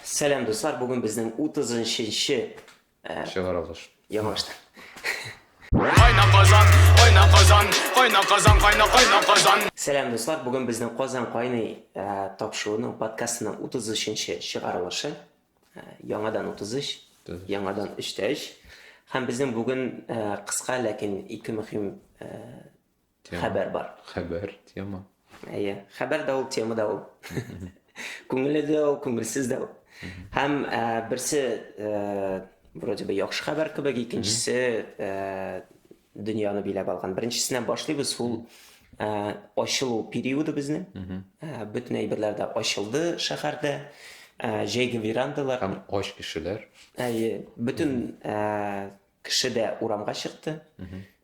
Сәлам дуслар, бүген безнең 30-нчы чыгарылыш. Яңаштан. Кайна Казан, кайна Казан, кайна Казан, кайна кайна Казан. Сәлам дуслар, бүген безнең Казан кайный тапшыруының подкастының 33-нче чыгарылышы. Яңадан 33, яңадан 3 тә 3. Һәм безнең бүген кыска, ләкин ике мөһим хәбәр бар. Хәбәр, тема. Әйе, хәбәр дә ул, тема да ул. Күңелле дә ул, күңелсез дә ул. Һәм ә, берсе ә, вроде бы яхшы хәбәр кебек, икенчесе ә, дөньяны биләп алган. Беренчесеннән башлыйбыз, ул ә, ачылу периоды безнең. Ә, бөтен әйберләр дә ачылды шәһәрдә. Ә, җәйге верандалар. Һәм ач кешеләр. Әйе, бөтен ә, Кеше дә урамга чыкты.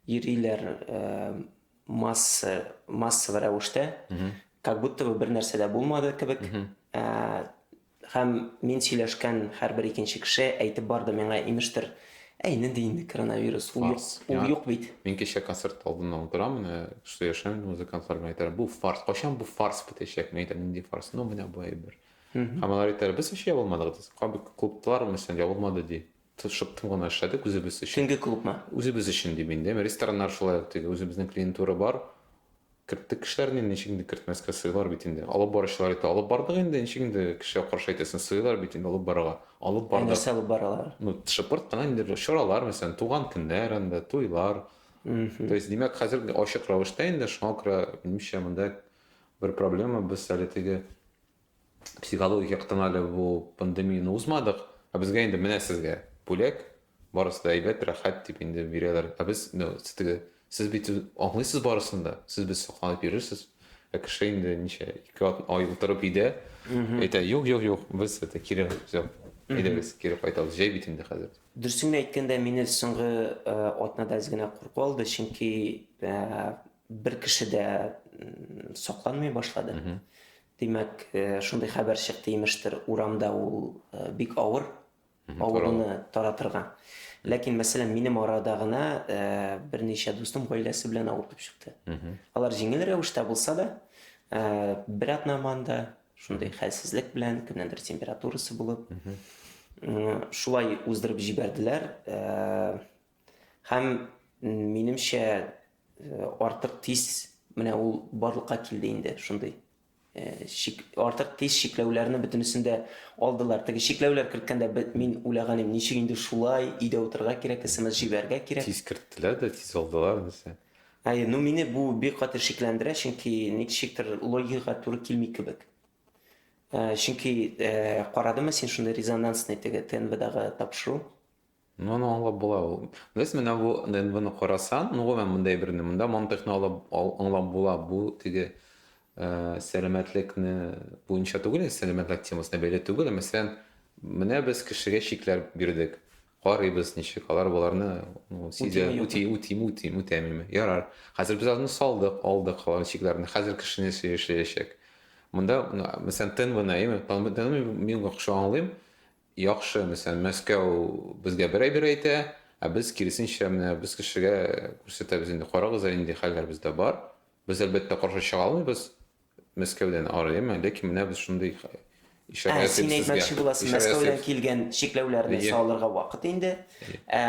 Йөриләр масса, массовый рәвештә. Как будто бы бер нәрсә дә булмады кебек. Һәм мин сөйләшкән һәрбер икенче кеше әйтеп барды миңа, имештер, әй, нинди инде коронавирус, ул юк, ул юк бит. Мин кичә концерт алдында утырам, менә сөйләшәм музыкантлар белән, әйтәләр, бу фарс, кайчан бу фарс бетәчәк? Мин әйтәм, нинди фарс? Ну, менә бу әйбер. Һәм алар әйтәләр, без ничә ябылмадык, клубтар, мәсәлән, ябылмады ди. Тырышып тын гына эшләдек үзебез өчен. Төнге клубмы? Үзебез өчен дим инде. Рестораннар шулай ук теге үзебезнең клиентура бар. Керттек кешеләрне инде, ничек инде кертмәскә, сыйлар бит инде. Алып баручылар итеп алып бардык инде, ничек инде кешегә каршы әйтәсең, сыйлар бит инде алып барырга. Алып бардык. Ә нәрсә алып баралар? Ну, шыпырт кына инде бер чаралар, мәсәлән, туган көннәр анда, туйлар. То есть, димәк, хәзер ачык рәвештә инде, шуңа күрә, минемчә, монда бер проблема, без әле теге Психологик яктан әле бу пандемияне узмадык, ә безгә инде менә сезгә бүләк, барысы да әйбәт, рәхәт дип инде бирәләр. Ә без ну, теге, сез бит аңлыйсыз барысын да, сез без сакланып йөрерсез. Ә кеше инде ничә, ике ай утырып өйдә, әйтә, юк, юк, юк, без это кире, все, әйдәгез, кире кайтабыз, җәй бит инде хәзер. Дөресен генә әйткәндә, мине соңгы атнада әз генә курку алды, чөнки бер кеше дә сакланмый башлады. Димәк, шундый хәбәр чыкты, имештер, урамда ул бик авыр, авыруны таратырга. Ләкин, мәсәлән, минем арада гына берничә дустым гаиләсе белән авырып чыкты. Алар җиңел рәвештә булса да, бер атнаманда шундый хәлсезлек белән, кемнәндер температурасы булып, шулай уздырып җибәрделәр. Һәм минемчә Э, артык тиз менә ул барлыкка килде инде шундый э, шик, артык тиз шикләүләрне бөтенесен дә алдылар теге шикләүләр керткәндә мин уйлаган идем ничек инде шулай өйдә утырырга кирәк смс җибәрергә кирәк тиз керттеләр дә тиз алдылар нәрсә әй ну мине бу бик каты шикләндерә чөнки ничектер логикага туры килми кебек э, чөнки карадымы син шундый резонансный теге тнвдагы тапшыру Ну аны аңлап була ул. Без менә бу ДНБны карасаң, ну гомумән мондый әйберне, монда мантыйкны алып аңлап була, бу теге сәламәтлекне буенча түгел, сәламәтлек темасына бәйле түгел, мәсәлән, менә без кешегә чикләр бирдек, карыйбыз ничек, алар боларны сизә, үти, үти, үти, үтәмиме, ярар. Хәзер без аны салдык, алдык алар чикләрне, хәзер кешене сөйләшәчәк. Монда, мәсәлән, ТНВны, әйеме, ТНВны мин яхшы аңлыйм, Яхшы, мәсәлән, Мәскәү безгә бер әйбер әйтә, ә без, киресенчә, менә без кешегә күрсәтәбез инде, карагыз әле нинди хәлләр бездә бар. Без, әлбәттә, каршы чыга алмыйбыз Мәскәүдән ары, яме, ләкин менә без шундый ишарә ясыйбыз сезгә. Ә, син әйтмәкче буласың, Мәскәүдән килгән чикләүләрне салырга вакыт инде. Ә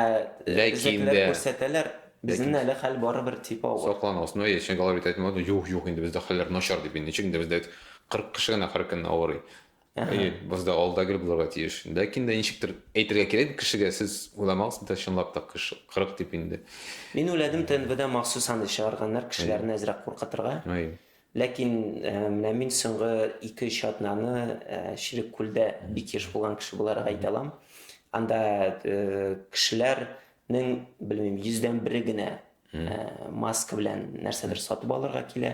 безнекеләр күрсәтәләр, безнең әле хәл барыбер дип авыр. Сакланыгыз. Ну, әйе, чөнки алар бит әйтмәде, юк, юк, инде бездә хәлләр начар дип, ничек инде бездә бит 40 кеше генә һәркөнне авырый. Әйе, без дә алда гел булырга тиеш. Ләкин дә ничектер әйтергә кирәк кешегә, сез уйламагыз бит, чынлап та кыш 40 дип инде. Мин уйладым, ТНВда махсус аны чыгарганнар, кешеләрне әзрәк куркытырга. Ләкин менә мин соңгы ике-өч атнаны Чилек күлдә бик еш булган кеше буларак әйтә алам. Анда кешеләрнең, белмим, йөздән бере генә маска белән нәрсәдер сатып алырга килә.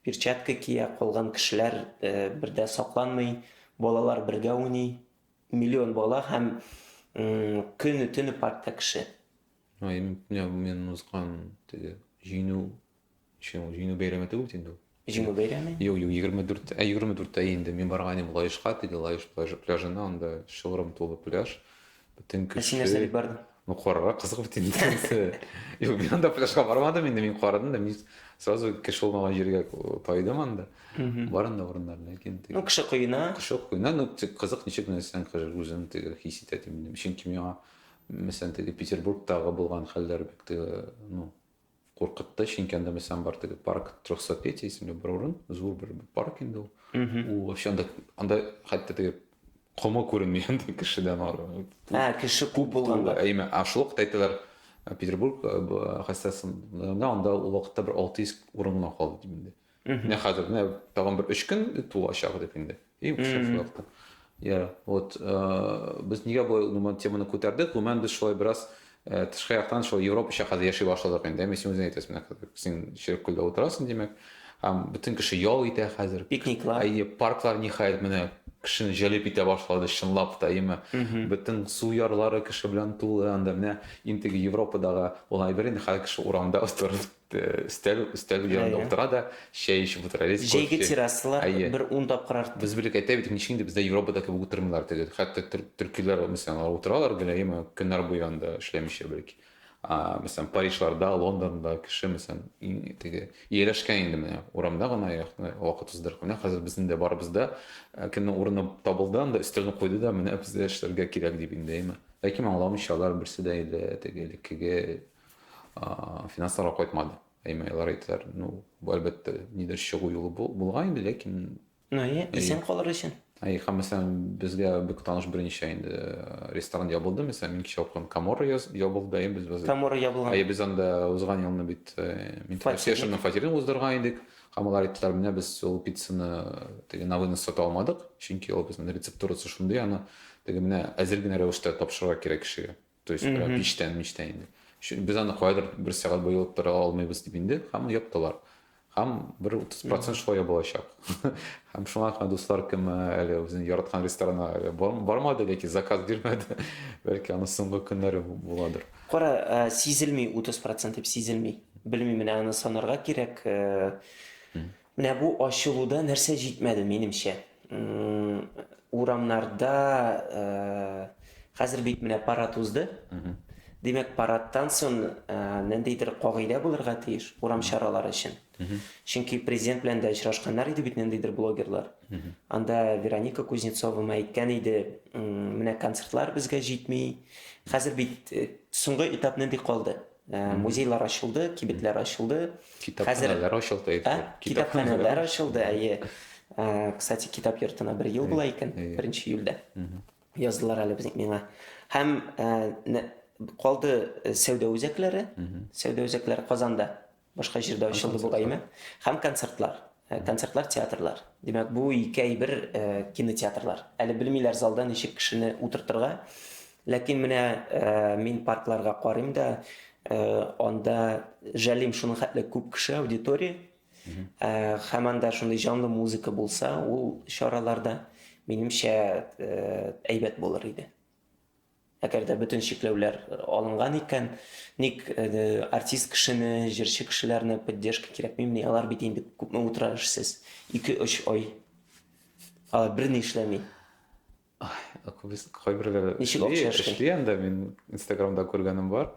Перчатка кия, калган кешеләр э, бердә сакланмый, балалар бергә уйный. Миллион бала һәм көне төне паркта кеше. Ай, мен узган теге җиңү, җиңү бәйрәме түгел инде ул. Җиңү бәйрәме? Юк, юк, егерме дүрт, ә егерме дүрттә инде мин барган идем Лаешка, теге Лаеш пляжы, пляжына, анда чылбырым тулы пляж, бөтен кеше. Ә син нәрсә дип бардың? Ну, карарга кызык бит инде икенчесе. Юк, мин анда пляжга бармадым инде, мин карадым да, мин сразу кеше булмаган җиргә тайдым анда. Бар анда урыннар, ләкин теге. Ну, кеше коена. Кеше коена, ну, кызык ничек нәрсәң кеше үзен теге хис итә дим. Чөнки миңа, мәсәлән, теге Петербургтагы булган хәлләр бик теге, ну, куркытты чөнки анда мәсәлән бар теге парк трехсотлетие исемле бер урын зур бер парк инде ул ул вообще анда анда хәтта теге комы күренми анда кешедән ары ә кеше күп булганда әйме а шул вакытта әйтәләр петербург хәстәсендә анда ул вакытта бер алты йөз урын гына калды дип инде Менә хәзер менә тагын бер 3 көн тулачак дип инде. И шеф вакыты. Я, вот э, без нигә бу гомумән теманы күтәрдек? Гомумән без шулай бераз э, тышкы яктан шул Европача хәзер яши башладык инде. Мин син үзең әйтәсең, менә хәзер син ширек күлдә утырасың, димәк. Һәм бөтен кеше ял итә хәзер. Пикниклар. Әйе, парклар ниһаять менә кешене җәлеп итә башлады, чынлап та, әйеме? Бөтен су ярлары кеше белән тулы, анда менә интеге Европадагы ул әйбер инде хәзер кеше урамда утырып өстәл өстәл янында Әйе. утыра да чәй эчеп утыра. Рис Җәйге кофе. террасалар Әйе. бер ун тапкыр артты. Без белек әйтә бит, ничек инде бездә Европада кебек утырмыйлар теге. Хәтта төр- төркиләр, мәсәлән, алар утыралар гөләем аны көннәр буе анда эшләмичә бәлки. А, мәсәлән, Парижларда, Лондонда кеше, мәсәлән, иң теге ияләшкән инде менә урамда гына якны вакыт уздырып. Менә хәзер безнең дә барыбызда э, кемнең урыны табылды анда, өстәлне куйды да, менә бездә эшләргә кирәк дип инде, әйме. Ләкин аңламыйча алар берсе дә инде теге элеккеге финансларга кайтмады әйме алар әйтәләр ну әлбәттә нидер чыгу юлы булган инде ләкин ну иә исән калыр өчен әй һәм мәсәлән безгә бик таныш берничә инде э, ресторан ябылды мәсәлән мин кеше укыган камора ябылды әйе без камора ябылган әйе без анда узган елны бит э, мин фатирның фатирын уздырган идек һәм алар әйттеләр менә без ул пиццаны теге на вынос сата алмадык чөнки ул безнең рецептурасы шундый аны теге менә әзер генә рәвештә тапшырырга кирәк кешегә то есть прям биштән миштән инде без аны кайдыр бер сәгать буе йолып тора алмыйбыз дип инде һәм яптылар һәм бер утыз процент шулай ябылачак һәм шуңа гына дуслар кем әле үзенең яраткан ресторанына әле бармады ләкин заказ бирмәде бәлки аның соңгы көннәре буладыр кара э, сизелми утыз процент дип сизелми белмим менә аны санарга кирәк э, Менә бу ачылуда нәрсә җитмәде, минемчә. Урамнарда хәзер бит менә парад узды. Димәк, парадтан соң ниндидер кагыйдә булырга тиеш урам чаралары өчен. Чөнки президент белән дә очрашканнар иде бит ниндидер блогерлар. Анда Вероника Кузнецова әйткән иде, менә концертлар безгә җитми. Хәзер бит соңгы этап нинди калды? Э, музейлар ачылды, кибетләр ачылды. Китапханәләр ачылды. Ә? Китапханәләр ачылды, әйе. Э, кстати, китап йортына бер ел була икән, беренче июльдә. Яздылар әле безнең миңа. Һәм э, калды сәүдә үзәкләре, сәүдә үзәкләре Казанда, башка җирдә ачылды бугаймы, һәм концертлар. Ә концертлар театрлар. Димәк, бу ике әйбер кинотеатрлар. Әле белмиләр залда ничек кешене утыртырга. Ләкин менә мин паркларга карыйм да, анда жәлим шуның хәтле күп кеше, аудитория. Һәм анда шундый җанлы музыка булса, ул чараларда, минемчә, әйбәт булыр иде. Әгәр дә бөтен чикләүләр алынган икән, ник артист кешене, җырчы кешеләрне поддержка кирәкмимени? Алар бит инде күпме утыра эшсез, ике-өч ай. Алар берни эшләми. Кайберләре эшли, эшли анда, мин инстаграмда күргәнем бар.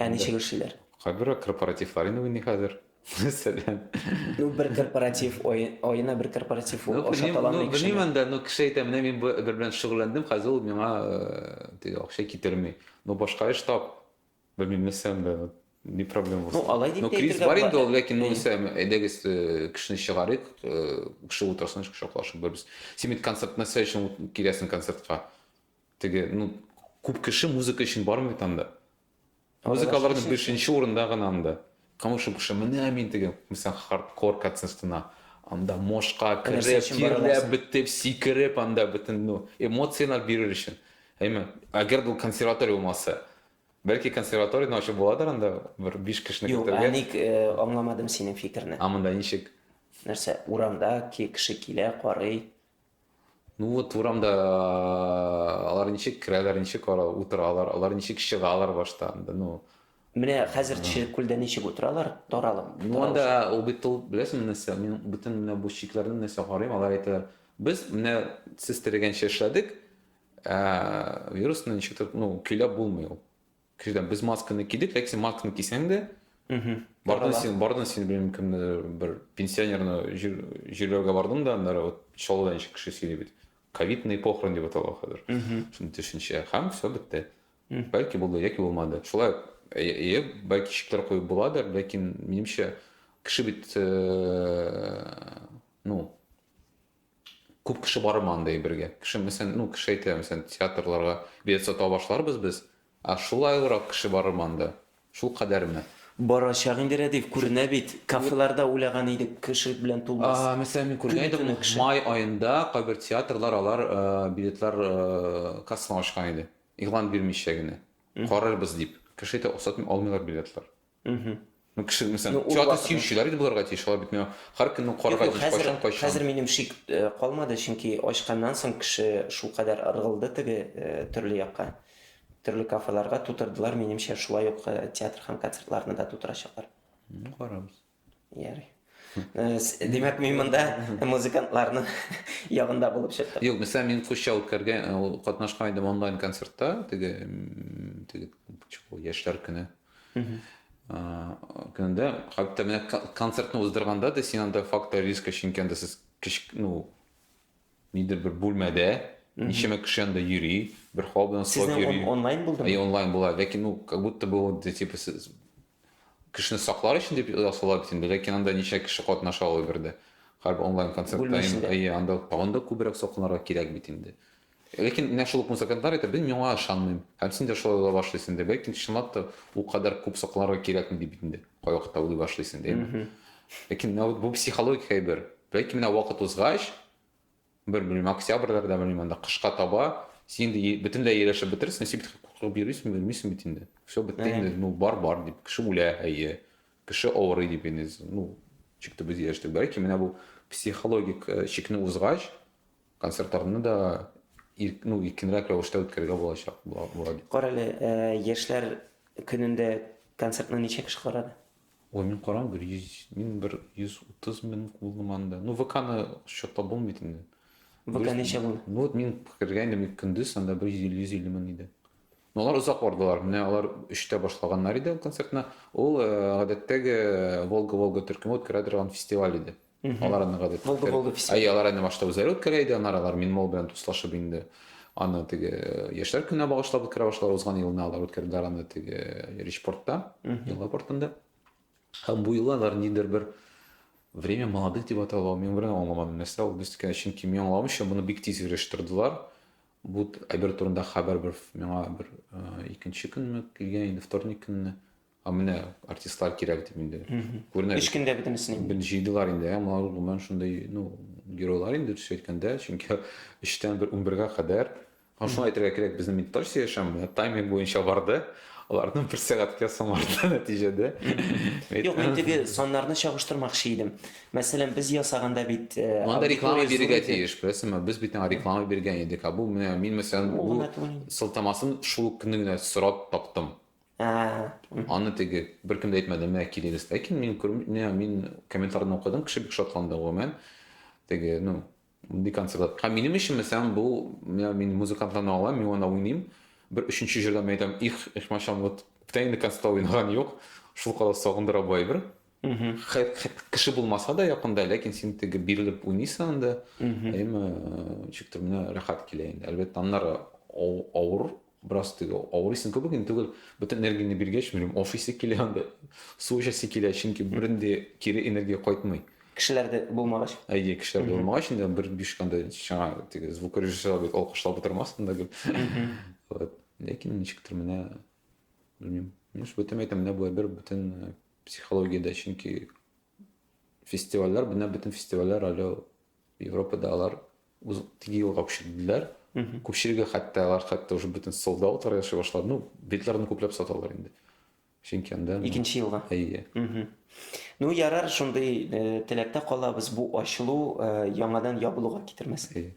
Ә ничек эшлиләр? Кайбер корпоративлар инде уйный хәзер. Мәсәлән. Ну, бер корпоратив аена бер корпоратив ул аша таланмый кеше. Белмим анда, ну кеше әйтә, менә мин бу бер белән шөгыльләндем, хәзер ул миңа э, акча китерми. Ну, башка эш тап. Белмим, нәрсә анда. Не проблема булсын. Ну, алай дип ну, кризис бар инде ул, ләкин ну, исә әйдәгез э, кешене чыгарыйк, э, кеше утырсын, шаклашып бербез. Син бит концерт нәрсә өчен киләсең концертка? Теге, ну, күп кеше музыка өчен бармый бит анда. Музыкаларда бишенче урында гына анда. Кому шул кеше, менә мин теге, мисал, хардкор концертына, анда мошка кереп, тирләп, бетеп, сикереп, анда бөтен, ну, эмоцияләр бирер өчен. Әйме, әгәр бу консерватория булмаса, бәлки консерваторияне ачып буладыр анда, бер биш кешене көтәргә. Юк, ник аңламадым синең фикерне. А монда ничек? Нәрсә, урамда кеше килә, карый, Ну вот урамда алар ничек керәләр, ничек утыралар, алар ничек чыгалар башта анда, ну. Менә хәзер Тишелек күлдә ничек утыралар, таралып. Ну анда ул бит ул, беләсеңме нәрсә, мин бөтен менә бу чикләрне нәрсә карыйм, алар әйтә, без менә сез теләгәнчә эшләдек, ә вирусны ничектер, ну, көйләп булмый ул. Кешедән без масканы кидек, ләкин син масканы кисәң дә, бардын син, бардын син белмим кемне бер пенсионерны җирләүгә бардым да, аннары вот Чаллыда ничек кеше сөйли бит. Ковидный похорон дип атала хәзер. Шундый төшенчә. Һәм все бетте. Бәлки булды, яки булмады. Шулай, әйе, бәлки шикләр куеп буладыр, ләкин минемчә кеше бит, ну, Күп кеше бармы андый әйбергә? Кеше мәсәлән, ну, кеше әйтә, мәсәлән, театрларга билет сата башларбыз без, ә шулай урак кеше барырмы анда? Шул кадәрме? Барачак инде, Рәдиф, күренә бит. Кафеларда уйлаган идек, кеше белән тулмас. А, мәсәлән, мин күргән идем, май аенда кайбер театрлар алар билетлар кассаны ачкан иде. Игълан бирмичә генә. Карарбыз дип. Кеше әйтә, аксатмый алмыйлар билетлар. Мхм. Ну, кеше, мәсәлән, ну, театр сөючеләр инде булырга тиеш, алар бит миңа һәр көнне карарга тиеш, кайчан, кайчан. Хәзер минем шик э, калмады, чөнки ачканнан соң кеше шул кадәр ыргылды теге э, төрле якка, төрле кафеларга тутырдылар, минемчә шулай ук э, театр һәм концертларны да тутырачаклар. Ну, карабыз. Ярый. Димәк, мин монда музыкантларны ягында булып чыктым. Юк, мисля, мин кушча үткәргә, катнашкан идем онлайн концертта, теге, теге, яшьләр көне. көнендә хәтта менә концертны уздырганда да син анда фактор риска чөнки анда сез кич ну нидер бер бүлмәдә ничәмә кеше анда йөри бер хал белән сылап йөри онлайн булдымы и онлайн була ләкин ну как будто бы вот типа сез кешене саклар өчен дип ясала бит инде ләкин анда ничә кеше катнаша ала бердә хәрби онлайн концерт анда тагын да күбрәк сакланырга кирәк бит инде Ләкин менә шул ук музыкантлар әйтә, Без миңа ышанмыйм. Һәм син дә шулай уйла башлыйсың инде. Бәлки, чынлап та, ул кадәр күп сокланырга кирәкме ди бит инде. Кайвакытта уйлый башлыйсың инде, әйеме? Ләкин менә бу психологик әйбер. Бәлки, менә вакыт узгач, бер, белмим, октябрьдә, белмим, анда кышка таба, син инде бөтенләй ияләшеп бетерсең, син бит куркып йөрисең, белмисең бит инде. Все, бетте инде, ну, бар, бар дип. Кеше үлә, әйе. Кеше авырый дип инде, ну, чик төбе ияләштек. Бәлки, менә бу психологик чикне узгач, Концертларны да ирк, ну, иркенрәк рәвештә үткәрергә булачак була, була дип. Кара әле, ә, яшьләр көнендә концертны ничә кеше карады? Ой, мин карам бер 100, мин бер 130 мең булдым анда. Ну, ВКны счетта булмый инде. ВК Дөрес- ничә булды? Ну, вот мин кергәндем ик- көндез, анда бер 150 150 мең иде. Но алар озак бардылар. Менә алар 3-тә башлаганнар иде концертны. Ул, э, гадәттәге Волга-Волга төркеме үткәрә торган фестиваль иде. Алар аны гадәт. Булды, булды, все. Әй, алар әнә башта үзләре үткәрә иде, аннары алар Минмол белән дуслашып инде. Аны теге э, яшьләр көненә багышлап үткәрә башлар. Узган елны алар үткәрделәр аны теге э, Ричпортта, елга портында. Һәм бу елы алар ниндидер бер время молодых дип аталган, мин берәү аңламадым, нәрсә ул без икән, чөнки мин аңламыйча моны бик тиз оештырдылар. Бу әйбер турында хәбәр бер миңа бер э, икенче көнме килгән инде, вторник көнне. Ә менә артистлар кирәк дип инде. Күренә. Эш көндә бөтенесен инде. Бен җыйдылар инде, ә малар гомумән шундый, ну, геройлар инде төс әйткәндә, чөнки 3-тән 1-11-гә кадәр. Һәм шуны әйтергә кирәк, безнең медитация яшәм, тайминг буенча барды. Аларның бер сәгатькә самарды нәтиҗәдә. Юк, мин теге саннарны чагыштырмакчы идем. Мәсәлән, без ясаганда бит э, Анда реклама бирергә тиеш, беләсеңме? Без бит реклама биргән идек. Ә бу менә мин мәсәлән, бу сылтамасын шул көнне генә сорап таптым. Аны теге беркем дә әйтмәде, менә кирилис. Ләкин мин күрм, менә мин комментарийны укыдым, кеше бик шатланды гомумән. Теге, ну, бик концерт. Һәм минем өчен мәсәлән бу, менә мин музыкантларны алам, мин аны уйныйм. Бер өченче җырда мин әйтәм, их, их мачан, вот бүтән инде концертта уйнаган юк. Шул кадәр сагындыра бу әйбер. Кеше булмаса да якында, ләкин син теге бирелеп уйныйсың анда. Әйме, ничектер менә рәхәт килә инде. Әлбәттә, аннары авыр Бераз теге авырыйсың кебек инде түгел, бөтен энергияңне биргәч, белмим, офисе килә анда, су эчәсе килә, чөнки бернинди кире энергия кайтмый. Кешеләр дә булмагач. Әйе, кешеләр дә булмагач, инде бер биш анда чана теге звукорежиссер абый алкышлап утырмас монда гел. Вот. Ләкин ничектер менә белмим. Ну, шул бөтен әйтәм, менә болай бер бөтен э, психологиядә, чөнки фестивальләр, менә бөтен фестивальләр әле Европада алар Үз теге юлга күчерделәр. Күпчелеге хәтта алар хәтта уже бөтен солдат утыры яши башлады. Ну, битләрне күпләп саталар инде. Чөнки анда Икенче елга. Әйе. Ну, ярар, шундый э, теләктә калабыз, бу ачылу э, яңадан ябылуга китермәсен.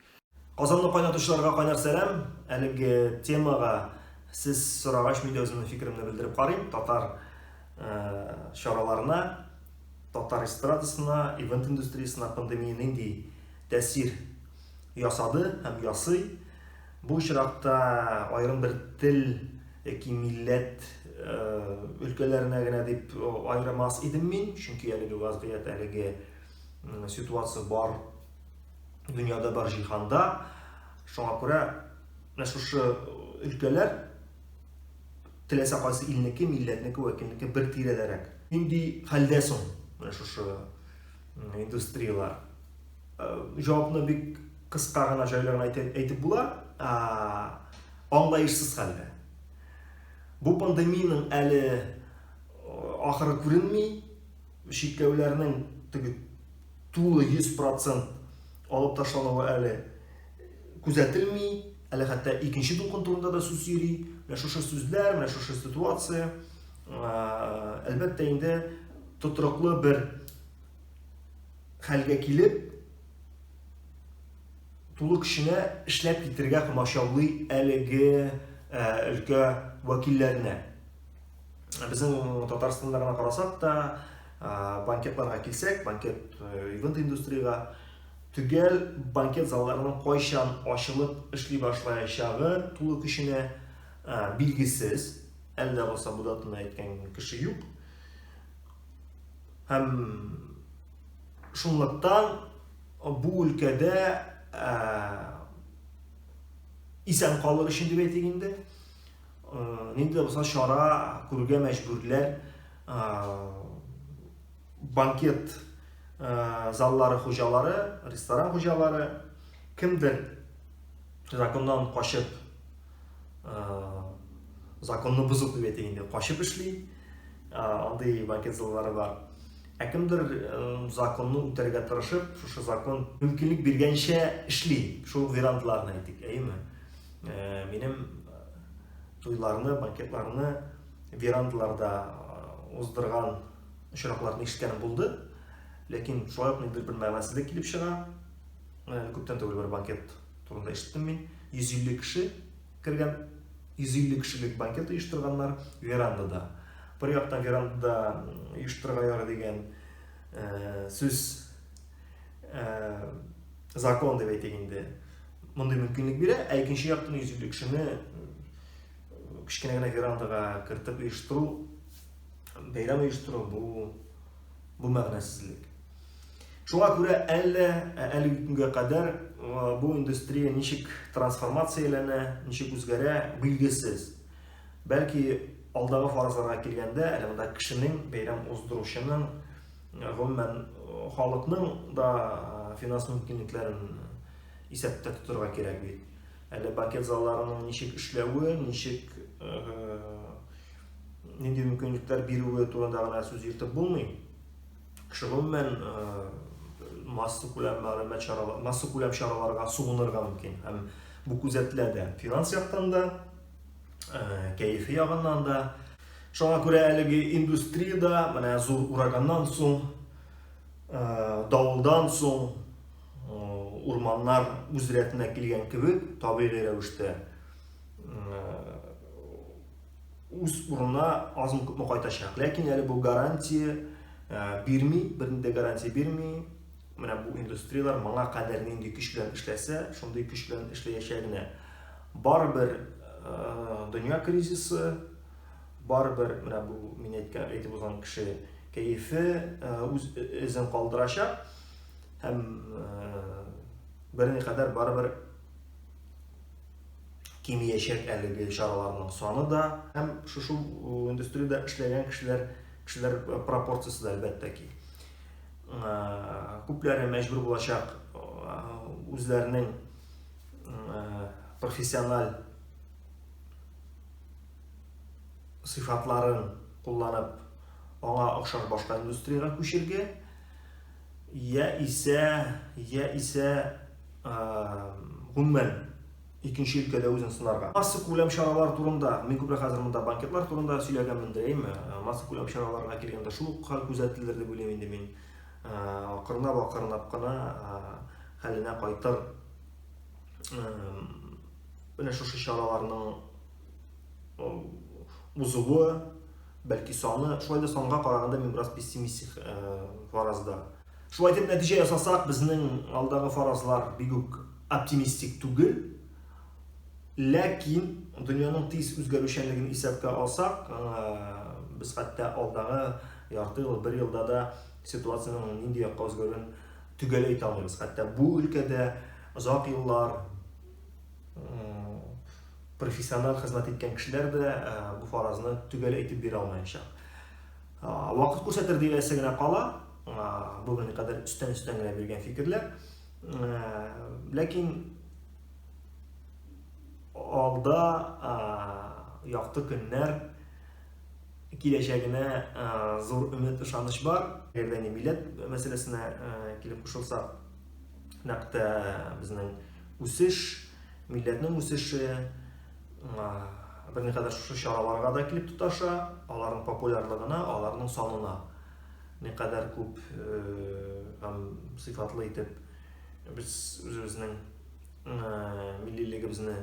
Казанны кайнатучыларга кайнар сәлам. Әлеге темага сез сорагач, мин дә үземнең фикеремне белдереп карыйм. Татар э, чараларына, татар эстрадасына, ивент индустриясенә пандемия нинди тәэсир ясады һәм ясый. Бу очракта аерым бер тел яки милләт э, өлкәләренә генә дип э, аермас идем мин, чөнки әлеге вазгыять, әлеге ситуация бар дөньяда бар җиһанда. Шуңа күрә менә шушы э, өлкәләр теләсә кайсы илнеке, милләтнеке, вәкилнеке бер тирәдәрәк. Нинди хәлдә соң менә шушы индустрияләр җавапны бик кыска гына җайлы гына әйтеп була аңлаешсыз хәлдә бу пандемиянең әле ахыры күренми чикләүләрнең теге тулы 100% алып ташлануы әле күзәтелми әле хәтта икенче дулкын турында да сүз йөри менә шушы сүзләр менә шушы ситуация Әлбәттә инде тотрыклы бер хәлгә килеп, тулы көченә эшләп китергә комачаулый әлеге өлкә вәкилләренә. Безнең Татарстанда гына карасак та, банкетларга килсәк, банкет ивент индустрияга төгәл банкет залларының кайчан ачылып эшли башлаячагы тулы көченә билгесез. Әллә булса бу датаны әйткән кеше юк. Һәм шунлыктан бу өлкәдә ә, исән калыр өчен дип әйтик инде, ә, нинди дә булса чара күрергә мәҗбүрләр ә, банкет ә, заллары хуҗалары, ресторан хуҗалары кемдер Законнан качып, законны бозып дип әйтик инде, качып эшли. Андый банкет заллары бар. Ә кемдер законны үтәргә тырышып, шушы закон мөмкинлек биргәнчә эшли. Шул вариантларны әйтик, әйеме? Минем туйларны, банкетларны верандларда уздырган очракларны ишеткәнем булды. Ләкин шулай ук ниндидер бер мәгънәсезлек килеп чыга. Менә әле күптән түгел бер банкет турында ишеттем мин. 150 кеше кергән, 150 кешелек банкет оештырганнар верандада. Бер яктан верандада оештырырга ярый дигән э, сүз э, закон дип әйтик инде. Мондый мөмкинлек бирә, ә икенче яктан 150 кешене кечкенә генә верандага кертеп оештыру, бәйрәм оештыру бу бу мәгънәсезлек. Шуңа күрә әллә әлеге көнгә кадәр бу индустрия ничек трансформацияләнә, ничек үзгәрә, билгесез. Бәлки алдагы фаразларга килгәндә, әле монда кешенең, бәйрәм уздыручының, гомумән халыкның да финанс мөмкинлекләрен исәптә тотырга кирәк бит. Әле банкет залларының ничек эшләве, ничек нинди мөмкинлекләр бирүе турында гына сүз йөртеп булмый. Гомумән, массакүләм мәгълүмат чаралары, массакүләм чараларга сугынырга мөмкин. Һәм бу күзәтелә дә финанс яктан да, кәефи ягыннан да. Шуңа күрә әлеге индустриядә менә зур ураганнан соң, давылдан соң урманнар үз рәтенә килгән кебек, табигый рәвештә үз урынына азмы күпме кайтачак ләкин әле бу гарантия ә, бирми бернинди гарантия бирми менә бу индустрияләр моңа кадәр нинди көч белән эшләсә шундый көч белән эшләячәгенә барыбер ә, дөнья кризисы барыбер менә бу мин әйткән әйтеп узган кеше кәефе ә, үз эзен калдырачак һәм ә, берникадәр барыбер кимиячәк әлеге чараларның саны да һәм шушы индустриядә эшләгән кешеләр кешеләр пропорциясе дә әлбәттә ки күпләре мәҗбүр булачак үзләренең профессиональ сыйфатларын кулланып аңа охшаш башка индустриягә күчергә я исә я исә гомумән икенче өлкәдә үзен сынарга. Масса күләм чаралар турында, мин күбрәк хәзер монда банкетлар турында сөйләгәнмен дәйем. Масса күләм чараларга килгәндә шул ук хәл күзәтелер дип уйлыйм инде мин. Акырынап, акырынап кына хәленә кайтыр. Менә шушы чараларның узуы, бәлки саны, шулай да санга караганда мин бераз пессимистик фаразда. Шулай дип нәтиҗә ясасак, безнең алдагы фаразлар бик үк оптимистик түгел. Ләкин дөньяның тиз үзгәрүчәнлеген исәпкә алсак, без хәтта алдагы ярты ел, бер елда да ситуациянең нинди якка үзгәрүен төгәл әйтә алмыйбыз. Хәтта бу өлкәдә озак еллар профессиональ хезмәт иткән кешеләр дә бу фаразны төгәл әйтеп бирә алмаячак. Вакыт күрсәтер диясе генә кала. Бүгенге кадәр өстән-өстән генә биргән фикерләр. Ләкин алда якты көннәр киләчәгенә зур өмет ышаныч бар. Әгәр дә милләт мәсьәләсенә килеп кушылсак, нәкъ тә безнең үсеш, милләтнең үсеше, берникадәр шушы чараларга да килеп тоташа, аларның популярлыгына, аларның санына никадәр күп һәм сыйфатлы итеп без үзебезнең миллилегебезне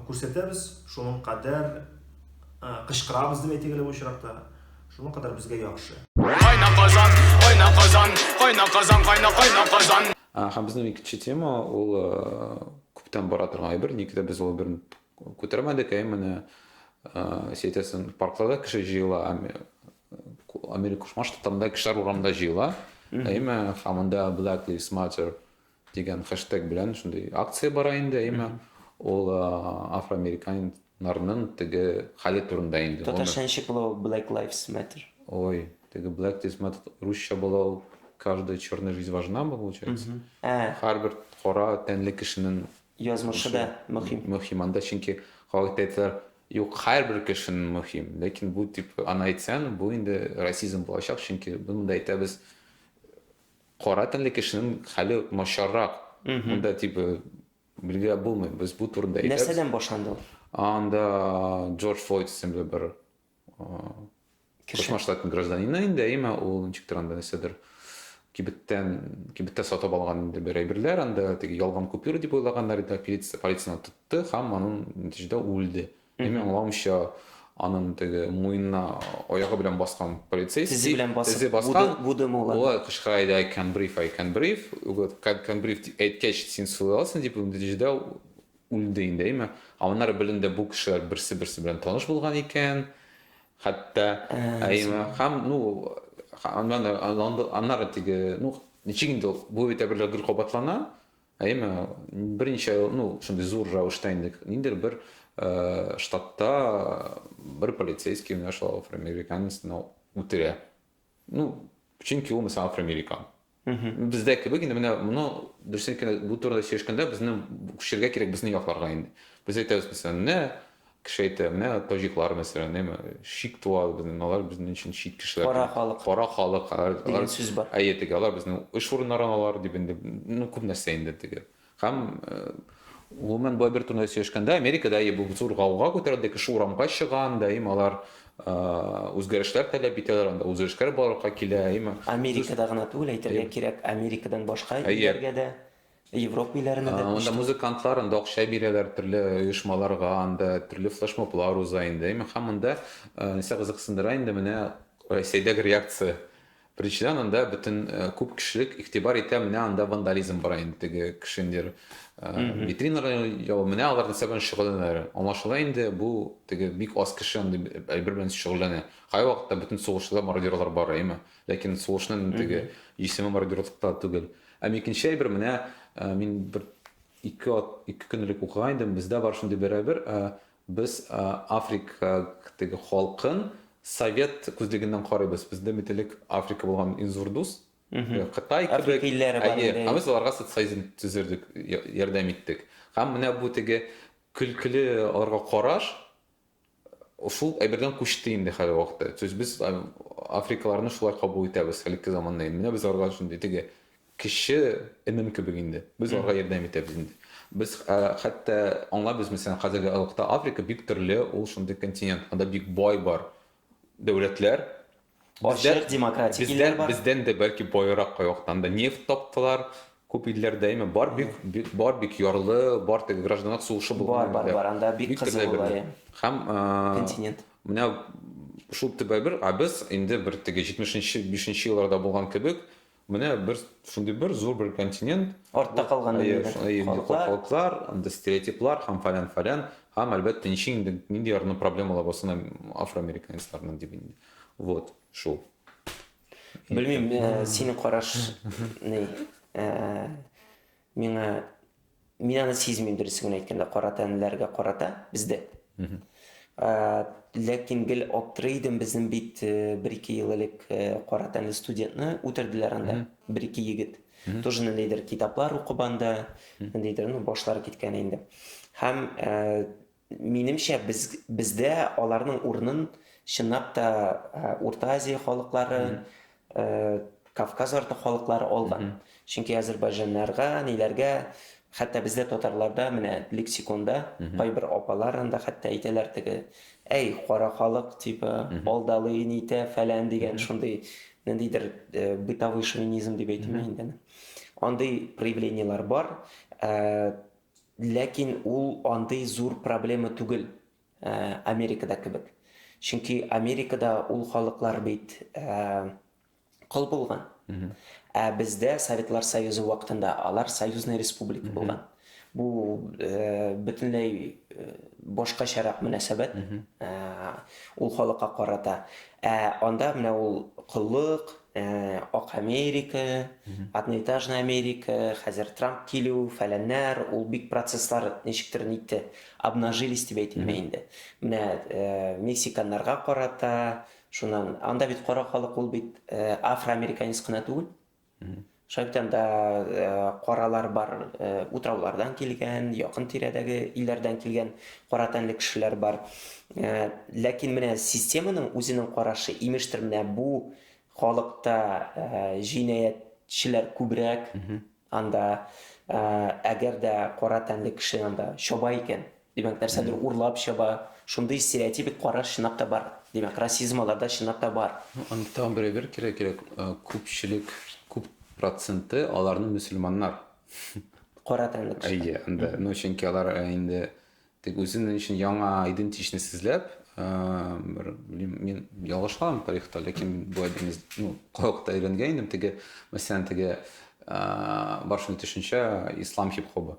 күрсәтәбез, шуның кадәр кычкырабыз дип әйтик әле бу очракта, шуның кадәр безгә яхшы. Кайна казан, кайна казан, кайна казан, кайна кайна казан. Һәм безнең икенче тема ул күптән бара торган әйбер, ник дә без ул бер күтәрмәдек, әй менә сетясын паркларда кеше җыела, Америка Кушма Штатларында кешеләр урамда җыела, әйме, һәм анда Black Lives Matter дигән хэштег белән шундый акция бара инде, әйме, ул афроамериканец Нарның теге хәле турында инде. Татарча ничек була ул Black Lives Matter? Ой, теге Black Lives Matter русча була ул Каждая черная жизнь важна мы получается. Һәрбер кара тәнле кешенең язмышы да мөһим. Мөһим анда чөнки халыкта әйтәләр, юк, һәрбер кешенең мөһим. Ләкин бу дип аны әйтсәң, бу инде расизм булачак, чөнки монда әйтәбез кара тәнле кешенең хәле начаррак. Монда типа Билгеләп булмый, без бу турында әйтәбез. Нәрсәдән башланды ул? Анда Джордж Флойд исемле бер Кошмар штатын гражданины инде, әйме, ул ничектер анда нәрсәдер кибеттән кибеттә сатып алган инде бер әйберләр анда теге ялган купюра дип уйлаганнар иде полиция полицияны тотты һәм аның нәтиҗәдә үлде Мин аңлавымча, анын теге муенына аягы белән баскан полицейский, тезе белән басып, тезе баскан, буды, буды Болай кычкыра иде, I can breathe, I can breathe. Вот, I can breathe дип әйткәч, син сулый аласың дип, нәтиҗәдә үлде инде, әйме? Ә аннары беленде, бу кешеләр берсе-берсе белән таныш булган икән. Хәтта, әйме? Һәм, ну, аннары теге, ну, ничек инде ул, бу бит әйберләр гел кабатлана. Әйме, берничә ел, ну, шундый зур рәвештә инде ниндер бер э, штатта бер полицейский менә шул афроамериканецны үтерә. Ну, чөнки ул мисал афроамерикан. Бездә кебек инде менә моны дөресен бу турыда сөйләшкәндә безне күчергә кирәк безнең якларга инде. Без әйтәбез мисал, менә Кеше әйтә, менә таҗиклар мәсәлән, яме, шик туа безнең, алар безнең өчен чит кешеләр. Кара халык. Кара халык. Дигән сүз бар. Әйе, теге, алар безнең эш урыннарын алар, дип инде, ну, күп нәрсә инде теге. Һәм, гомумән, болай бер турыда сөйләшкәндә, Америкада, әйе, бу зур гауга күтәрелде, кеше урамга чыга, анда, әйеме, алар үзгәрешләр таләп итәләр, анда үзгәрешләр барлыкка килә, әйеме. Америкада гына түгел, әйтергә кирәк, Америкадан башка илләргә дә. Әйе. Европа илләренә дә күчте. Анда музыкантлар, анда акча бирәләр төрле оешмаларга, анда төрле флешмоблар уза инде. Әмма һәм монда нәрсә кызыксындыра инде менә Россиядәге реакция. Беренчедән, анда бөтен күп кешелек игътибар итә, менә анда вандализм бара инде теге кеше инде витринага яу, менә алар нәрсә белән шөгыльләнәләр. Аңлашыла инде, бу теге бик аз кеше андый әйбер белән шөгыльләнә. Кайвакытта бөтен сугышчылар, мародерлар бар, әйеме? Ләкин сулышның теге җисеме бордюрлыкта түгел. Әм икенче әйбер, менә мин бер ике ат, ике көн элек укыган идем, бездә бар шундый бер әйбер, без Африка теге халкын совет күзлегеннән карыйбыз. Бездә бит элек Африка булган иң зур дус, Кытай кебек. Африка илләре бар иде. Әйе, ә без аларга социализм төзердек, ярдәм иттек. Һәм менә бу теге көлкеле аларга караш, Шул әйбердән күчте инде хәзерге вакытта. То есть без африкаларны шулай кабул итәбез хәлиткә заманда. Менә без аларга шундый теге кеше энем кебек инде. Без аларга ярдәм итәбез инде. Без хәтта аңлабыз, мәсәлән, хәзерге алыкта Африка бик төрле, ул шундый континент. Анда бик бай бар дәүләтләр, Бездә- Ачык, демократик бездә- илләр бар. Бездән дә бәлки баерак кайвактан да нефть таптылар. Күп илләрдә имя бар бик, бик бар бик ярлы, бар теге гражданлык сугышы булган Бар, бар, илләр. бар, анда бик кызу төрле була, әйберләр. иә. Һәм, э, Континент. менә шул төп әйбер, ә без инде бер теге җитмешенче, бишенче елларда булган кебек, Менә бер шундый бер зур бер континент. Артта калган халыклар, анда стереотиплар һәм фалян фалян, һәм әлбәттә ничек инде нинди ярны проблемалар булсын афроамериканецларның дип инде. Вот, шул. Белмим, синең караш ни? Миңа, мин аны сизмим, дөресен генә әйткәндә, кара тәнлеләргә карата бездә. Ә, ләкин гел аптырый идем, безнең бит э, бер-ике ел элек э, кара тәнле студентны үтерделәр анда, бер-ике егет. Тоже ниндидер китаплар укып анда, ниндидер, ну, башлары киткән инде. Һәм э, Минемчә, без, бездә аларның урынын чынлап та э, Урта Азия халыклары, э, Кавказ арты халыклары алган. Чөнки азербайҗаннарга, ниләргә, хәтта бездә татарларда менә лексиконда кайбер апалар анда хәтта әйтәләр теге, әй, кара халык, типа, алдалый, нитә, фәлән дигән шундый ниндидер э, бытовой шовинизм дип әйтимме инде. аны. Андый проявлениелар бар. Э, Ләкин ул андый зур проблема түгел Америкада кебек. Чөнки Америкада ул халыклар бит кол булган. Ә бездә Советлар Союзы вакытында алар союзный республика булган. Бу бөтенләй башкачарак мөнәсәбәт ул халыкка карата. Ә анда менә ул коллык, Ак Америка, одноэтажная Америка, хәзер Трамп килү, фәләннәр, ул бик процесслар ничектер нитте, обнажились дип әйтелми инде. Менә мексиканнарга карата, шуннан, анда бит кара халык ул бит афроамериканец кына түгел. Шайтанда каралар бар, утраулардан килгән, якын тирәдәге илләрдән килгән кара тәнле кешеләр бар. Ләкин менә системаның үзенең карашы, имештер, менә бу халыкта җинаятьчеләр күбрәк, анда әгәр дә кара тәнле кеше анда чаба икән, Димәк, нәрсәдер урлап чаба. Шундый стереотипик караш чынлап та бар. Димәк, расизм аларда чынлап та бар. Аны тагын бер әйбер кирәк, кирәк, күпчелек, күп проценты аларның мөселманнар. Кара тәнле кешеләр. Әйе, анда, ну, чөнки алар инде тик үзен өчен яңа идентичность сизләп, бер, белмим, мин ялгышаммы тарихта, ләкин бу әйберне, ну, калыкта өйрәнгән идем, теге, мәсәлән, теге, бар шундый төшенчә, ислам хип-хобы.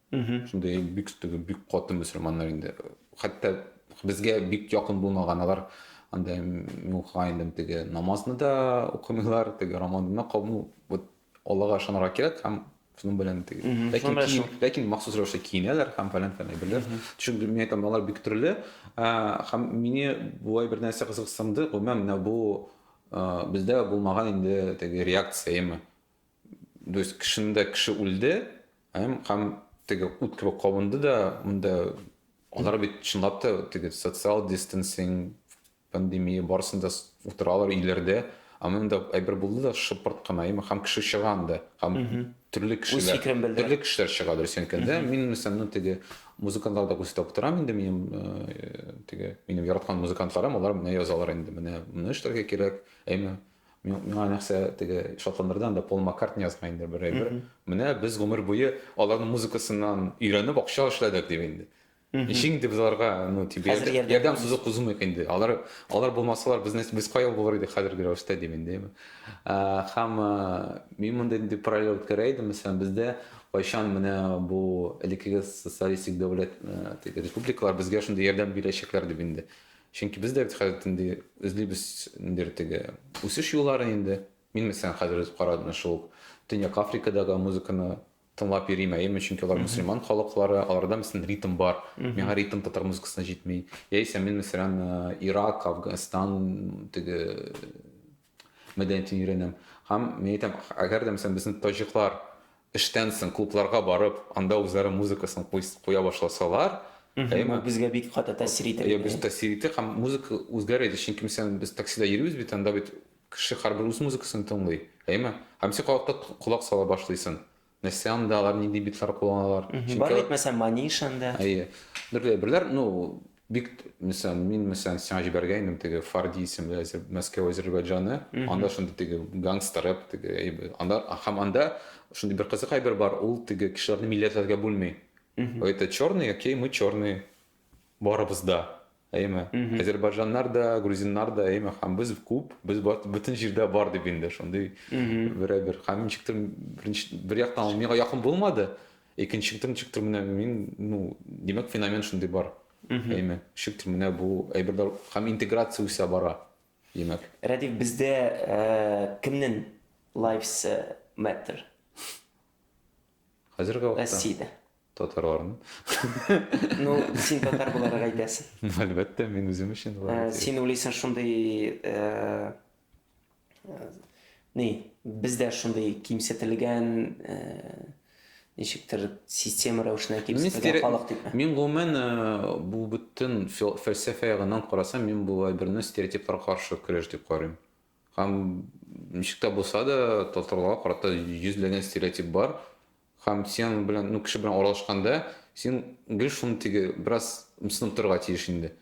Шундый бик теге бик каты мөселманнар инде. Хәтта безгә бик якын булмаган алар анда муха инде теге намазны да укымыйлар, теге рамаданны кабул вот Аллага ышанырга кирәк һәм шуның белән теге. Ләкин киен, ләкин махсус рәвештә киенәләр һәм фәлән фәлән әйберләр. Чөнки мин әйтәм, алар бик төрле. Һәм мине болай бер нәрсә кызыксынды, гомумән менә бу бездә булмаган инде теге реакция, яме. То есть кешендә кеше үлде, һәм һәм теге ут кебек кабынды да, монда алар бит чынлап та теге социал дистансинг пандемия барысын да утыралар өйләрдә, ә монда әйбер булды да шыпырт кына, яме һәм кеше чыга анда, һәм төрле кешеләр, төрле кешеләр чыга дөрес әйткәндә, мин мәсәлән ну теге музыкантлар да күрсәтеп торам инде минем э, теге минем яраткан музыкантларым, алар менә язалар инде, менә менә эшләргә кирәк, әйме Миңа нәрсә теге шатландырды анда Пол Маккартни язган инде бер әйбер. Менә без гомер буе аларның музыкасыннан өйрәнеп акча эшләдек дип инде. Ничек инде без аларга ну тип ярдәм сузып кузмыйк инде. Алар алар булмасалар без без кая булыр идек хәзерге рәвештә дип инде. Һәм мин мондый инде параллель үткәрә идем. Мәсәлән, бездә кайчан менә бу элеккеге социалистик дәүләт республикалар безгә шундый ярдәм бирәчәкләр дип инде. Чөнки без дә бит хәзер инде эзлибез ниндидер теге үсеш юлларын инде. Мин мәсәлән хәзер үз карадым шул Төньяк Африкадагы музыканы тыңлап йөрим, әйеме, чөнки алар мусульман халыклары, аларда мәсәлән ритм бар. Миңа ритм татар музыкасына җитми. Яисә мин мәсәлән Ирак, Афганстан теге мәдәниятен өйрәнәм. Һәм мин әйтәм, әгәр дә мәсәлән безнең таҗиклар эштән соң клубларга барып, анда үзләре музыкасын куя башласалар, әйеме? Безгә бик каты тәэсир итәр иде. Без тәэсир итәр һәм музыка үзгәрер иде, чөнки мәсәлән без таксида йөрибез бит, анда бит кеше һәрбер үз музыкасын тыңлый, әйеме? Һәм син колакта колак сала башлыйсың. Нәрсә анда алар нинди битлар кулланалар? Бар бит мәсәлән Маниш анда. Әйе. Берләй берләр, ну бик мәсәлән, мин мәсәлән сиңа җибәргәйнем теге Фарди исемле Мәскәү Азербайджаны, анда шундый теге гангстер рэп теге әйбер. Анда һәм анда шундый бер кызык әйбер бар, ул теге кешеләрне милләтләргә бүлми. Это черные, окей, мы черные. Барыбыз да, әйеме? Азербайҗаннар да, грузиннар да, әйеме? Һәм без күп, без бөтен җирдә бар дип инде шундый берәбер. Һәм ничектер беренче бер яктан ул миңа якын булмады, икенчектер ничектер менә мин, ну, димәк феномен шундый бар. Әйеме? Ничектер менә бу әйберләр һәм интеграция үсә бара, димәк. Рәдиф, бездә кемнең lives matter? Хәзерге вакытта. Россиядә. Татарларны. Ну, син татар буларак әйтәсең. Ну, әлбәттә, мин үзем өчен Ә, болай. Син уйлыйсың шундый ә, ә, ни, бездә шундый кимсетелгән ә, ничектер система рәвешенә Мин кимсетелгән стере- халык дип. Мин гомумән э, бу бөтен фил- фәлсәфә ягыннан карасам, мин бу әйберне стереотиплар каршы көрәш дип карыйм. Һәм ничек тә булса да татарларга карата йөзләгән стереотип бар. Һәм синең белән, ну, кеше белән аралашканда, син гел шуны теге, бераз мсынып торырга тиеш инде.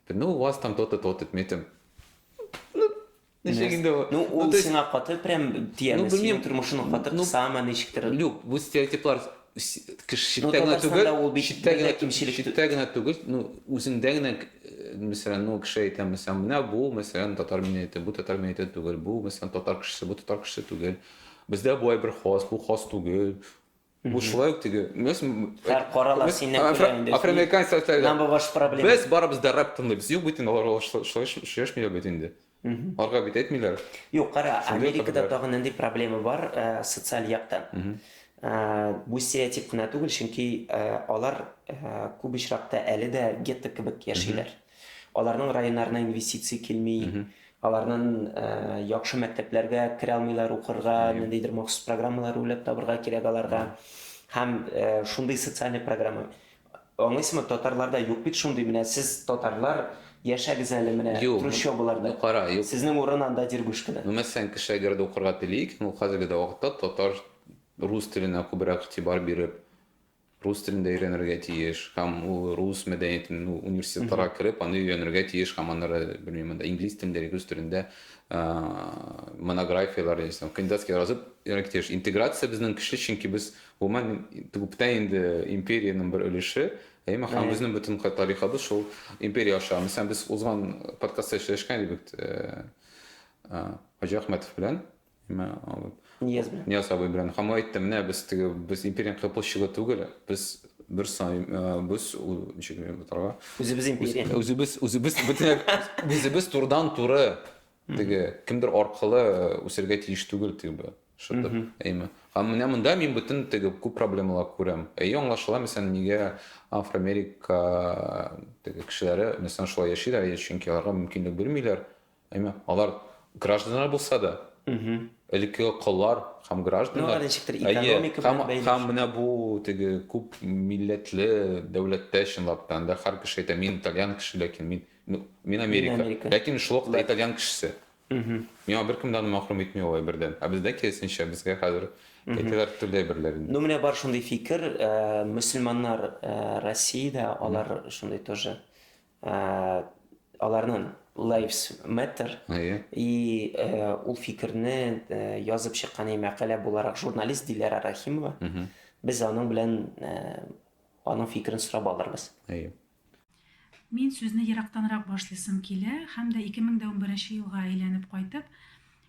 Ну, у вас там то-то, то-то, дип, мин әйтәм. Ну, ничек инде ул? Ну, ул сиңа каты прям тияме, синең тормышыңны каты кысамы, ничектер? Юк, бу стереотиплар читтә генә түгел, читтә генә түгел, ну, үзеңдә генә, мәсәлән, ну, кеше әйтә, мәсәлән, менә бу, мәсәлән, татар минәйте, бу татар минәйте түгел, бу, мәсәлән, татар кешесе, бу татар кешесе түгел. Бездә болай бер хас, бу хас түгел. Бу шулай ук теге. Һәр карала синнән күрә инде. Афроамериканец социаль. Нам ваш проблема. Без барыбыз да рэп тыңлыйбыз. Юк бит инде алар шулай шешмиләр бит инде. Алга бит әйтмиләр. Юк, кара, Америкада тагын нинди проблема бар э, социаль яктан. Э, бу стереотип кына түгел, чөнки э, алар күп очракта әле дә гетто кебек яшиләр. Аларның районнарына инвестиция килми, аларнын яхшы мәктәпләргә керә алмыйлар укырга, ниндидер махсус программалар уйлап табырга кирәк аларга. Һәм шундый социальный программа. Аңлыйсызмы, татарларда юк бит шундый, менә сез татарлар яшәгез әле менә трущобаларда. Ну кара, юк. Сезнең урын анда Дергушкада. Ну мәсәлән, кеше әгәр дә укырга тели икән, ул хәзерге дә вакытта татар, рус теленә күбрәк игътибар биреп, рус телен дә өйрәнергә тиеш һәм ул рус мәдәниятен ну университетларга кереп аны өйрәнергә тиеш һәм аннары белмим анда инглиз телендә или рус телендә монографияләр яисә кандидатский язып өйрәнергә тиеш интеграция безнең көчле чөнки без гомумән күптән инде империянең бер өлеше әйме һәм безнең бөтен тарихыбыз шул империя аша мәсәлән без узган подкастта сөйләшкән идек Хаҗи Ахмәтов белән нимә алып Нияз белән. Нияз абый белән һәм әйтте менә без теге без империянең площадьы түгел без бер сай э, без ул ничек генә бутарга Үзебез империя. үзебез үзебез бөтен үзебез турыдан туры теге кемдер аркылы үсәргә тиеш түгел теге бу шытып әйме һәм менә монда мин бөтен теге күп проблемалар күрәм әйе аңлашыла мәсәлән нигә афроамерика теге кешеләре мәсәлән шулай яшиләр әйе чөнки аларга мөмкинлек бирмиләр Әмма алар гражданнар булса да, элеккеге коллар һәм гражданнар, әйе, һәм менә бу теге күп милләтле дәүләттә чынлап та, анда һәр кеше әйтә, мин итальян кеше, ләкин мин, ну, мин Америка, ләкин шул ук итальян кешесе. Миңа беркем дә аны мәхрүм итми ул әйбердән. Ә бездә киресенчә, безгә хәзер әйтәләр төрле әйберләр инде. Ну, менә бар шундый фикер, мөселманнар Россиядә, алар шундый тоже. Аларның Lives Matter и ул фикерне язып чыккан и мәкалә буларак журналист Диләрә Рахимова. Без аның белән аның фикерен сорап алырбыз. Мин сүзне ерактанрак башлыйсым килә һәм дә 2011 елга әйләнеп кайтып,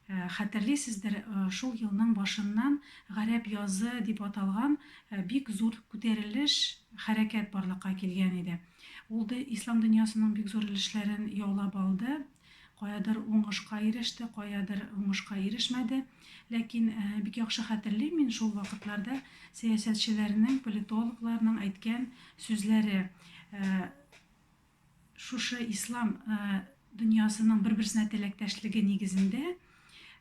Хәтерлисездер, шул елның башыннан Гарәп язы дип аталган бик зур күтәрелеш, хәрәкәт барлыкка килгән иде. Ул да ислам дөньясының бик зур өлешләрен яулап алды. Каядыр уңышка иреште, каядыр уңышка ирешмәде. Ләкин бик яхшы хәтерлим мин шул вакытларда сәясәтчеләрнең, политологларның әйткән сүзләре. Шушы ислам дөньясының бер-берсенә теләктәшлеге нигезендә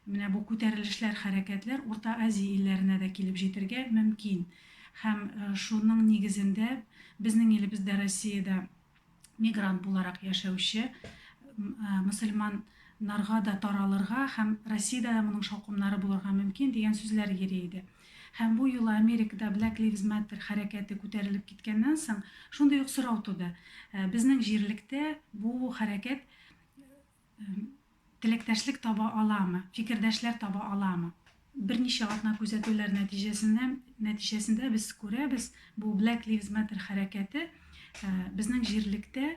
менә бу күтәрелешләр, хәрәкәтләр Урта Азия илләренә дә килеп җитергә мөмкин. Һәм шуның нигезендә безнең илебездә Россиядә мигрант буларак яшәүче мөселман нарга да таралырга һәм Россиядә дә моның шаукымнары булырга мөмкин дигән сүзләр йөри иде. Һәм бу юлы Америкада Black Lives Matter хәрәкәте күтәрелеп киткәннән соң, шундый ук сорау туды, безнең җирлектә бу хәрәкәт теләктәшлек таба аламы, фикердәшләр таба аламы? Берничә атна күзәтүләр нәтиҗәсендә, нәтиҗәсендә без күрәбез, бу Black Lives Matter хәрәкәте безнең җирлектә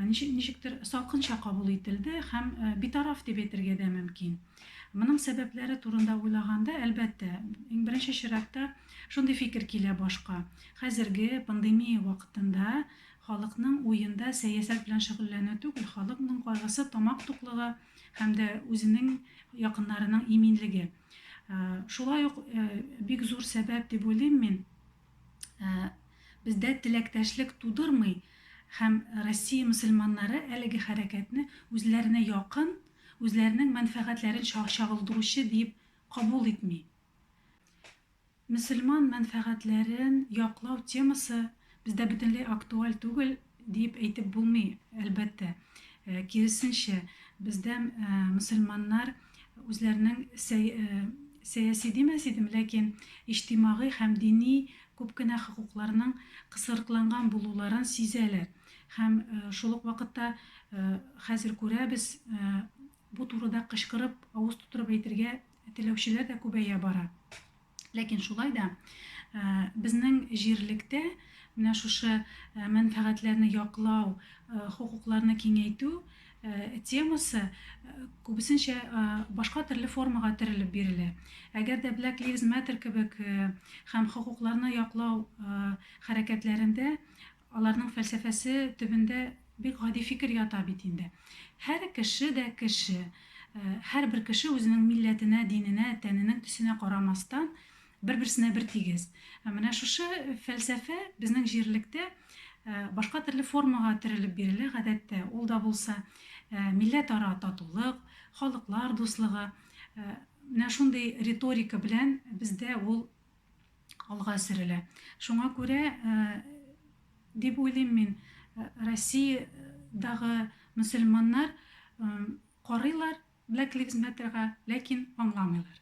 ничек, ничектер салкынча кабул ителде һәм битараф дип әйтергә дә мөмкин. Моның сәбәпләре турында уйлаганда, әлбәттә, иң беренче чиратта шундый фикер килә башка. Хәзерге пандемия вакытында халыкның уенда сәясәт белән шөгыльләнү түгел, халыкның кайгысы тамак туклыгы һәм дә үзенең якыннарының иминлеге. Шулай ук бик зур сәбәп дип уйлыйм мин, бездә теләктәшлек тудырмый һәм Россия мөселманнары әлеге хәрәкәтне үзләренә якын үзләренең мәнфәгатьләрен чагылдыручы диеп кабул итми. Мөселман мәнфәгатьләрен яклау темасы бездә бөтенләй актуаль түгел диеп әйтеп булмый, әлбәттә. Киресенчә, бездә мөселманнар үзләренең сәяси димәс идем, ләкин иҗтимагый һәм дини күп кенә хокукларның кысырыкланган булуларын сизәләр. Һәм шул ук вакытта хәзер күрәбез, бу турыда кычкырып, авыз тутырып әйтергә теләүчеләр дә күбәя бара. Ләкин шулай да безнең җирлектә менә шушы мәнфәгатьләрне яклау, хокукларны киңәйтү темасы күбесенчә башка төрле формага терелеп бирелә. Әгәр дә Black Lives Matter кебек һәм хокукларны яклау хәрәкәтләрендә Аларның фәлсәфәсе төбендә бик гади фикер ята бит инде. Һәр кеше дә кеше. Һәрбер кеше үзенең милләтенә, диненә, тәненең төсенә карамастан, бер-берсенә бертигез. Менә шушы фәлсәфә безнең җирлектә башка төрле формага төрелеп бирелә, гадәттә, ул да булса, милләтара татулык, халыклар дуслыгы. Менә шундый риторика белән бездә ул алга сөрелә. Шуңа күрә, дип уйлыйм мин, Россиядагы мөселманнар карыйлар Black Lives Matter га, ләкин аңламыйлар.